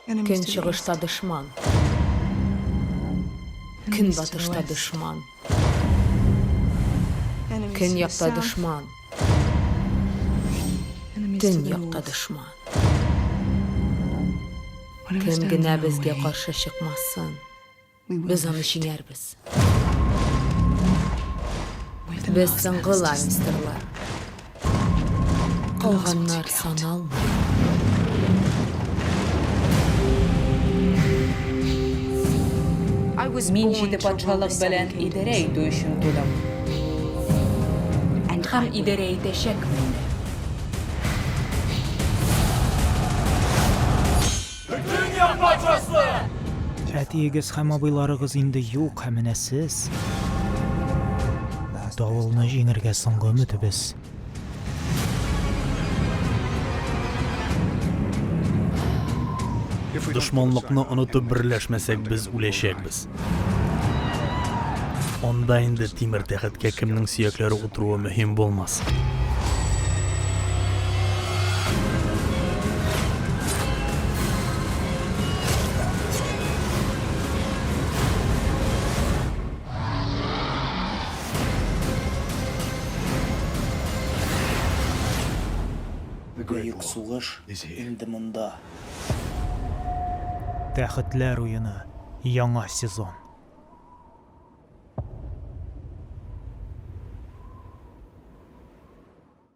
Көнчыгышта дошман. Көнбатышта дошман. Көньякта дошман. Төньякта дошман. Кем генә безгә каршы чыкмасын. Без аны җиңәрбез. Без соңгы Ланнистерлар. Калганнар саналмый. Мин җиде патшалык белән идарә итү өчен тудым. Һәм идарә итәчәкмен. Бөтендөнья патшасы! Әтиегез һәм абыйларыгыз инде юк, ә менә сез. Давылны җиңергә соңгы өметебез. Дошманлыкны онытып берләшмәсәк, без үләчәкбез. Анда инде тимер тәхеткә кемнең сөякләре утыруы мөһим булмас. Бөек сугыш инде монда. Тәхетләр уены, яңа сезон.